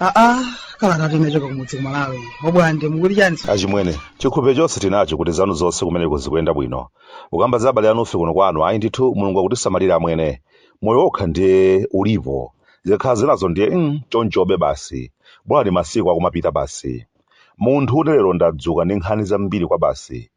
aa kalata tinachoka kumudzi kumalawi obwande mukuti chani achimwene chikhulupiriro chonse tinacho kuti zanu zonse kumeneko zikuyenda bwino ukamba za abale anufe kuno kwanu ayi ndithu mulungu akutisamalira amwene moyo wokha ndiye ulipo zikakhala zinazo ndiye mm, chonchobe basi bola ni masiku akumapita basi munthune lero ndadzuka ndi nkhani zambiri kwabasi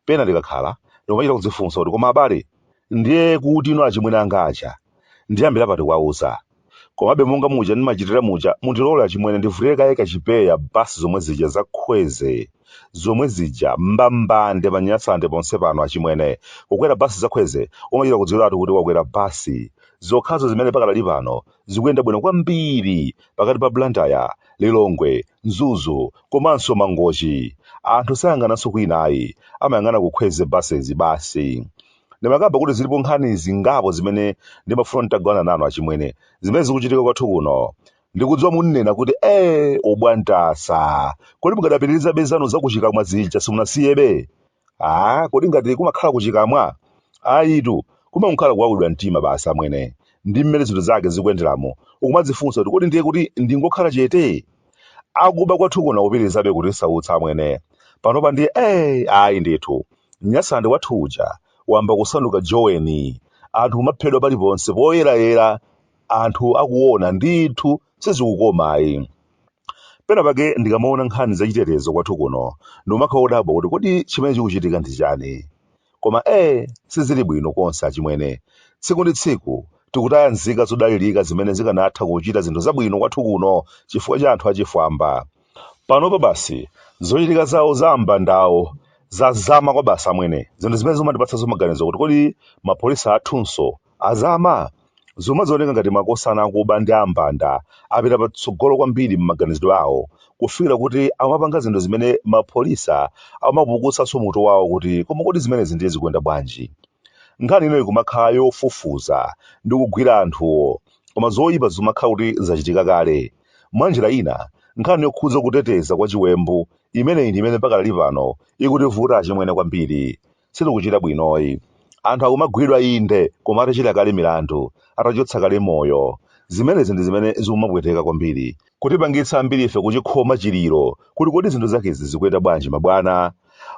pena ndikakhala ndikumachita kudzifunsa kuti koma abale ndiye kuti ino achimwene anga aja ndiyambira pati kuwauza komabe monga muja ndimachitira muja mundilole achimwene ndivulire kaye kachipewa basi zomwe zija za kwezy zomwe zija mbambande panyasande ponse pano achimwene kukwera basi za kwezy umachita kudziwiratu kuti wakwera basi zokhazo zimene pakadali pano zikuyenda bwino kwambiri pakati pa Blantyre, Lilongwe, Mzuzu komanso Mangochi. Anthu sayang'ananso kwina ayi, amayang'ana ku Kwezy Buses basi. Ndimakamba kuti zilipo nkhani zingapo zimene ndimafuna nditagawana nanu achimwene, zimene zikuchitika kwathu kuno. Ndikudziwa munena kuti ee ubwantasa, kodi mukadapitirizabe zanu zakuchikamwa zija simunasiyebe? Aaa kodi ngati kumakhala kuchikamwa? Ayitu, kumangokhala kuwawidwa mtima basi amwene, ndi mmene zinthu zake zikuyenderamu, ukumadzifunsa kuti kodi ndiye kuti ndingokhala chete? Akuba kwathu kuno akupitirizabe kutisautsa amwene, panopa ndiye ee ayi ndithu, Nyasande wathu uja wayamba kusanduka Joweni, anthu kumaphedwa paliponse poyerayera anthu akuona ndithu. sizikukoma ayi pena pake ndikamaona nkhani zachitetezo kwathu kuno ndimakhala odabwa kuti kodi chimene chikuchitika ndi chani koma ee sizili bwino konse achimwene tsiku ndi tsiku tikutaya nzika zodalirika zimene zikanatha kuchita zinthu zabwino kwathu kuno chifukwa cha anthu achifwamba panopa basi zochitika zawo za ambandawo zazama kwabasi amwene zinthu zimene zimandipatsanso maganizo kuti kodi mapholisa athunso Azama, zikumaoneka ngati makosana akuba ndi ambanda apita patsogolo kwambiri m'maganizidwe awo kufikira kuti amapanga zinthu zimene mapholisa amapukusanso mutu wawo kuti koma kodi zimenezi ndiye zikuyenda bwanji? Nkhani ino ikumakhala yofufuza ndi kugwira anthuwo koma zoyipa zikumakhala kuti zachitika kale. Mwanjira ina, nkhani yokhudza kuteteza kwa chiwembu imeneyi ndi imene pakadali pano ikutivuta achimwene kwambiri. sitikuchita bwinoyi. Anthu akumagwidwa inde koma atachita kale milandu, atachotsa kale moyo. Zimenezi ndi zimene zikumapweteka kwambiri, kutipangitsa ambirife kuchikhoma chiliro kuti kodi zinthu zakezi zikuyenda bwanji mabwana?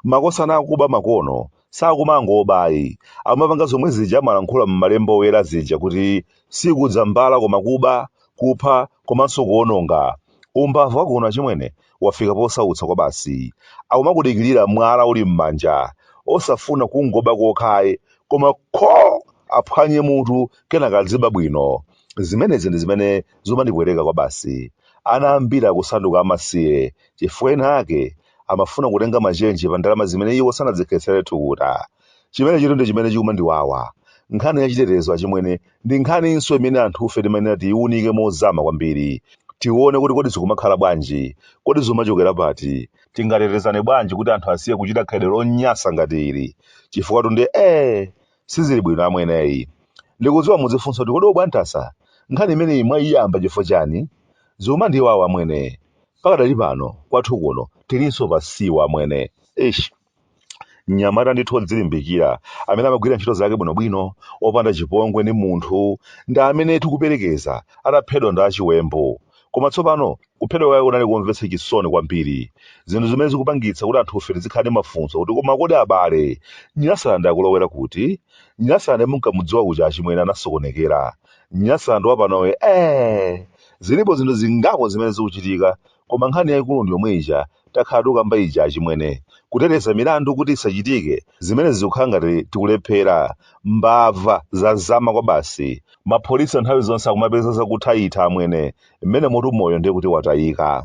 Makosana akuba makono sakumangoba ayi, akumapanga zomwe zija amalankhula m'Malemba Oyera zija kuti, Sikudza mbala koma kuba, kupha komanso kuwononga. Umbava wakuno achimwene wafika posautsa kwabasi. Akumakudikirira mwala uli m'manja, osafuna kungoba kokha ayi, koma kho! aphwanye mutu kenaka adziba bwino. Zimenezi ndi zimene zumandipweteka kwabasi. Ana ambiri akusanduka amasiye chifukwa ena ake amafuna kutenga machenji pa ndalama zimene iwo sanadzikhetsere thukuta. chimenechitu ndi chimene chikumandiwawa nkhani ya chitetezo achimwene ndi nkhaninso imene anthufe timayenera tiyiwunike mozama kwambiri tione kuti kodi zikumakhala bwanji kodi zimachokera pati tingatetezane bwanji kuti anthu asiye kuchita khalidwe lonyansa ngati ili chifukwa tunde ee sizili bwino amweneyi ndikudziwa mudzifunsa kuti kodi a Bwantasa nkhani imeneyi mwayiyamba chifukwa chani zikumandiwawa amwene pakadali pano kwathu kuno tilinso pasiwa amwene ish mnyamata ndithu odzilimbikira amene amagwira ntchito zake bwinobwino opanda chipongwe ndi munthu ndi amene tikuperekeza ataphedwa ndi achiwembu koma tsopano kuphedwa kwake kunali komvetsa chisoni kwambiri zinthu zimene zikupangitsa kuti anthufe tizikhala ndi mafunso kuti koma kodi abale nyasande akulowera kuti nyasande munkamudziwa kuja achimwene anasokonekera nyasande wapanowe eh zilipo zinthu zingapo zimene zikuchitika koma nkhani yaikulu ndi yomwe ija takhala tikukamba ija achimwene. Kuteteza milandu kuti isachitike, zimene zikukhala ngati tikulephera. Mbava zazama kwabasi. Mapholisa nthawi zonse akumapeza zakuthaitha amwene, mmenemotu moyo ndiye kuti watayika.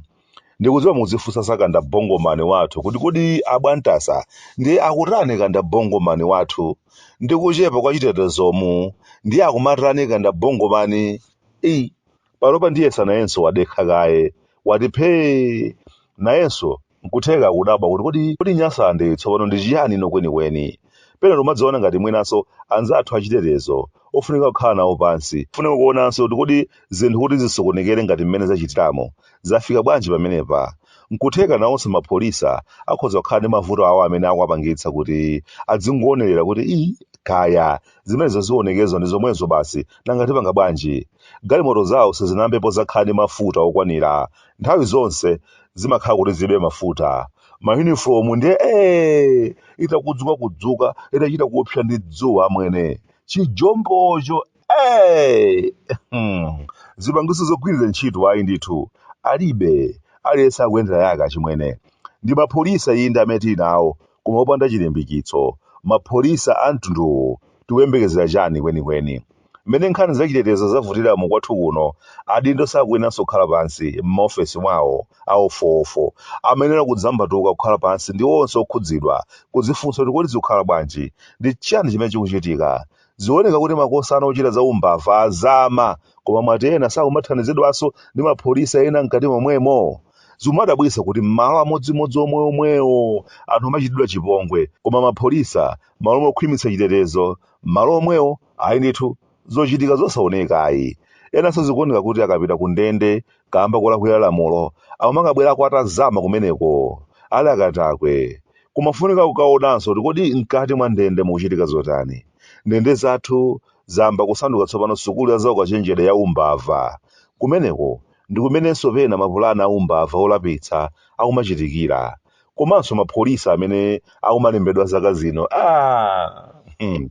Ndikudziwa mukudzifunsa za kandabongomani wathu kuti kodi a Bwantasa ndiye akutani kandabongomani wathu ndi kuchepa kwa chitetezomu ndiye akumatani kandabongomani? Ei! panopa ndiyetsa nayenso wadekha kaye wati phee nayenso nkutheka akudabwa kuti kodi kodi nyasande tsopano ndi chiyani ino kwenikweni pena tomadziona ngati mwinanso anzathu achitetezo ofunika kukhala nawo pansi funika kuonanso kuti kodi zinthu kuti zisokonekere ngati mmene zachitiramu zafika bwanji pamenepa nkutheka nawonso mapholisa akhoza kukhala ndi mavuto awo amene akuwapangitsa kuti adzingoonerera kuti ii kaya Zimenezo zionekerezo ndi zomwezo basi nanga tipanga bwanji? Galimoto zawo sizinayambepo zakhala ndi mafuta okwanira. Nthawi zonse zimakhala kuti zilibe mafuta. Mayunifomu ndiye ee! Itakudzuka-kudzuka, itachita kupsa ndi dzuwa amwene. Chijombocho ee! Hmm. Zipangizo zogwirira ntchito ayi ndithu. Alibe. Aliyense akuyendera yake achimwene. Ndi mapholisa inde amene tili nawo koma opanda chilimbikitso. Mapholisa a mtundu uwu tikuyembekezera chani kwenikweni? Mmene nkhani za chitetezo zavutiramu kwathu kuno adindo sakuyeneranso kukhala pansi mma ofesi mwawo a wofowofo. Amayenera kudzambatuka kukhala pansi ndi onse okhudzidwa kudzifunsa kuti kodi zikukhala bwanji? Ndi chani chimene chikuchitika? Zikuoneka kuti makosana ochita za umbava azama koma mwati ena sakumathandizidwanso ndi mapholisa ena mkati momwemo? Zikumadabwitsa kuti mmalo amodzimodzi omweomwewo anthu amachitidwa chipongwe koma mapholisa mmalo mokhwimitsa chitetezo mmalo omwewo ayi ndithu zochitika zosaoneka ayi enanso zikuoneka kuti akapita kundende kaamba kolakwira lamulo akumakabwerako atazama kumeneko ali akatakwe kumafunika kukaonanso kuti kodi mkati mwa ndende mukuchitika zotani ndende zathu zayamba kusanduka tsopano sukulu ya zaukachenjede ya umbava kumeneko ndi kumenenso pena mapulani a umbava olapitsa akumachitikira komanso mapholisa amene akumalembedwa zaka zino ah! hmm.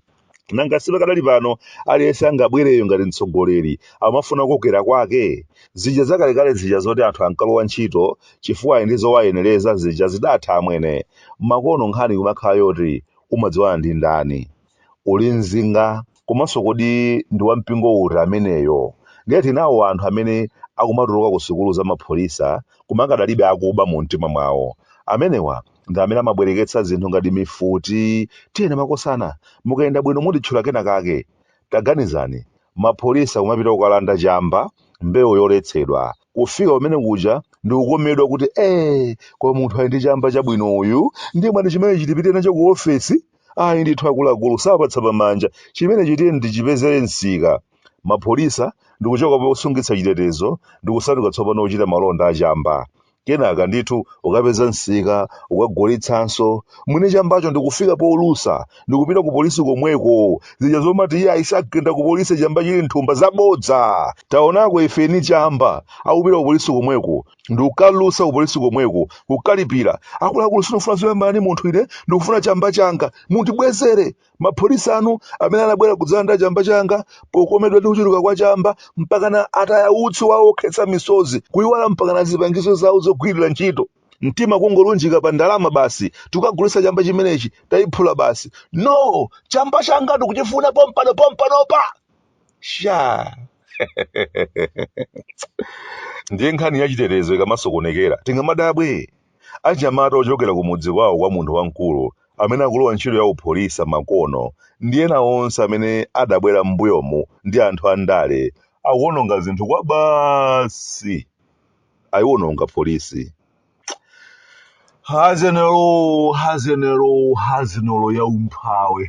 nanga si pakadali pano aliyense angabwereyo ngati mtsogoleri amafuna kukokera kwake zija zakalekale zija zoti anthu ankalowa ntchito chifukwa ali ndi zowayenereza zija zidatha amwene makono nkhani kumakhala yoti umadziwana ndi ndani uli mzinga komanso kodi ndi wampingo uti ameneyo ndiye tinawo anthu amene akumatuluka ku sukulu za mapholisa koma akadalibe akuba mu mtima mwawo amenewa ndi amene amabwereketsa zinthu ngati mifuti tiyene makosana mukayenda bwino mutitchula kena kake taganizani mapholisa kumapita kukalanda chamba mbewu yoletsedwa kufika pamene kuja ndikukomedwa kuti ee koma munthu ali ndi chamba chabwino uyu ndiye mwati chimene chitipite nacho ku ofesi ayi ndithu akuluakulu sapatsa pamanja chimene chi tiyeni tichipezere msika mapholisa ndikuchoka posungitsa chitetezo ndikusanduka tsopano ochita malonda achamba Kenaka ndithu ukapeza msika ukagulitsanso, mwini chambacho ndikufika polusa ndikupita ku polisi komweko, zija zomati iye ayi sagenda ku polisi chamba chili mthumba zabodza! Taonako ife eni chamba akupita ku polisi komweko ndikukalusa ku polisi komweko kukalipira, akuluakulu sindikufuna zoyambana ndi munthu ine ndikufuna chamba changa mundibwezere! Mapholisa anu amene anabwera kudzalanda chamba changa pokomedwa ndi kuchuluka kwa chamba mpakana ataya utsi wawo wokhetsa misozi, kuiwala mpakana zipangizo zawo zogwirira ntchito. Mtima kungolunjika pa ndalama basi, tikakagulitsa chamba chimenechi, taiphula basi. No! Chamba changa ndikuchifuna pompano pompanopa! Shaa! Ndiye nkhani ya chitetezo ikamasokonekera tingamadabwe? Anyamata ochokera kumudzi kwawo kwa munthu wamkulu amene akulowa ntchito ya upholisa makono ndi ena onse amene adabwera m'mbuyomu ndi anthu andale akuononga zinthu kwabasi. Ayiwononga polisi. Hazenelo, hazenelo, hazenelo ya umphawi.